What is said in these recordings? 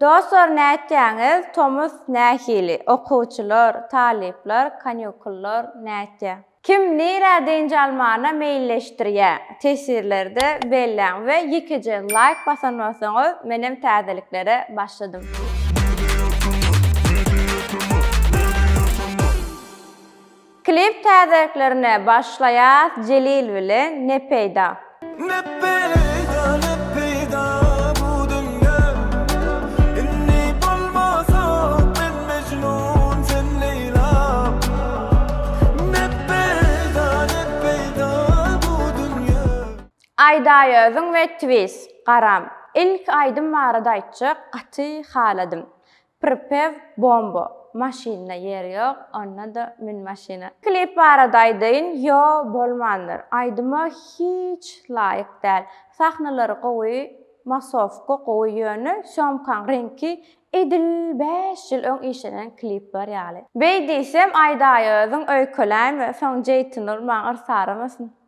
Dostlar nätýäňiz tomus nähili okuwçylar talyplar kanýukullar nätýä. Kim nirä dynç almana meýilleşdirýä teswirlerde belläň we ýekeje laýk basan bolsaňyz menem täzeliklere başladym. Klip täzeliklerine başlaýas Jelil bilen ne peýda. Ne peýda ne peýda bu dünýä Indi bolmasak men Mejnun sen Leýla Ne peýda ne peýda bu dünýä. Aýdaý özüň we Twiz, garam. Ilki aýdym barada aýtjak gaty haladym. Prpew bombo maşynda ýer ýok onda-da mün maşyna. Klip barada aýdaýyn ýo bolmandyr aýdyma hiç laýyk däl sahnalary gowy masowka gowy ýöne sýomkaň reňki edil bäş ýyl öň işlenen klipler ýaly. Beý diýsem aýdaýozyn öýkeläýme soň jeýtyn ol maňa yrsaramasyn.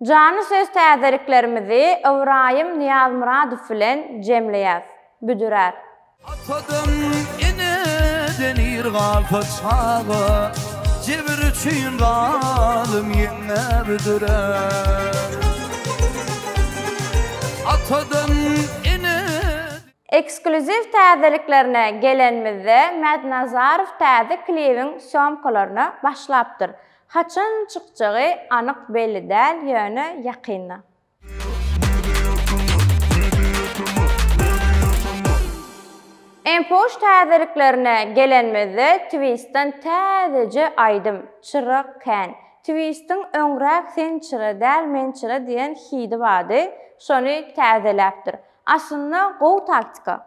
Janly söz täzeliklerimizi Ybraýym Nyýazmyradow bilen jemleýäs. Büdürer. Atadan, eneden ir galsa çaga, Jebir üçin zalym ýeňňe büdürer. Atadan, eneden. Eksklýuziw täzeliklerine gelenimizde Mädnazarow täze klibiň sýomkalaryna başlapdyr. Haçan çykjagy anyk belli däl ýöne ýakynda. Enpoş täzeliklerine gelenmizde Twistdan täzeje aýdym Çyrak kän. Twist'in öňräk Sen çyra däl men çyra diýen hidi bardy, şony täzeläpdir. Aslynda gowy taktika.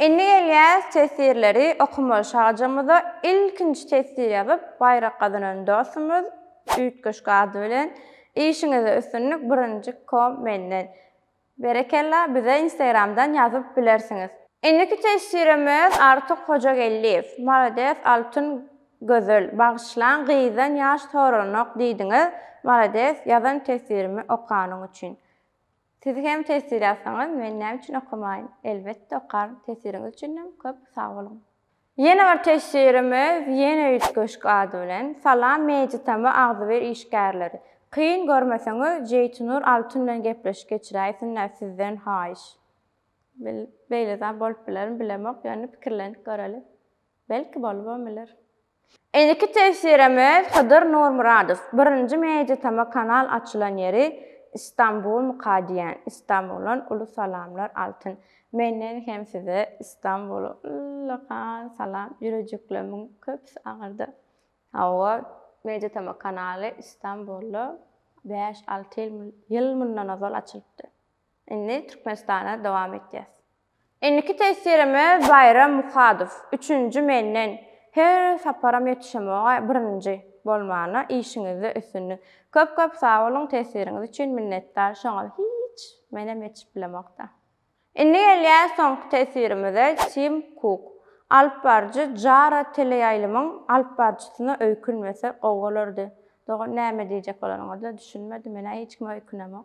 Indi gelýäs teswirleri okamaga şajamyza ilkinji teswir ýazyp baýrak gazanan dostumyz Üýtgeşik ady bilen işiňizde üstünlik birinji kom menden. Berekella bize instagramdan ýazyp bilersiňiz. Indiki teswirimiz Artyk Hojageldiýew malades Altyn gözel bagyşlaň gyzdan ýaş soralanok diýdiňiz malades ýazan teswirimi okanyň üçin. Siz hem tesir ýazsaňyz men näme üçin okamaýyn? Elbetde okaryn, tesiriňiz üçinem köp sag boluň. Ýene bir tesirimiz ýene üýt köşk ady bilen Salam Media tm agzybir işgärleri. Kyn görmeseňiz Jeýtunur Altun bilen gepleşik geçiräýsinler sizden haýyş. Bil beýle zat bolup bilermi bilemok ýöne pikirlenip göreli. Belki bolubam biler. Indiki tefsirimiz Hydyr Nurmyradow, Birinji Meýditama kanal açylan ýeri Istanbul myka diýen Istanbuldan uly salamlar Altyn menden hem size Istanbula ullakan salam ýürejiklemiň köpüsi agyrdy hawa Meýditama kanaly Istanbulda bäş alty ýyl ýyl mundan ozal açylypdy indi Türkmenistana dowam etýäs. Indiki tesirime Baýram Muhadow, üçünji menden. Her saparam ýetişemoga birinji bolmana işiňizde üstünlik. Köp köp sag boluň tesiriňiz üçin minnetdar şoňa hiç menem ýetişip bilemokda. Indi gelýäs soňky tesirimize Tim Kuk, alyp baryjy Jara teleýaýlymyň alyp baryjysyna öýkünmese gowy bolardy. Dogan näme diýjek bolaryňyza düşünmedi menä hiç kime öýkünemok.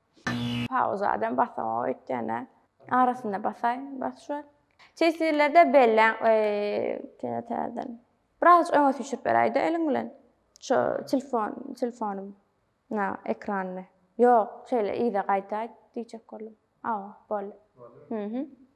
Pauza adam basamak öýtýänä arasynda basaý bas şu. Tesirlerde belläň eee täzeden. Biraz öňe süçürip beräýde eliň bilen. Şu telefon, telefonym. Na ekranyny. Ýok, şeýle yza gaýtaý diýjek boldum. Aw, boldy. Boldy. Mhm.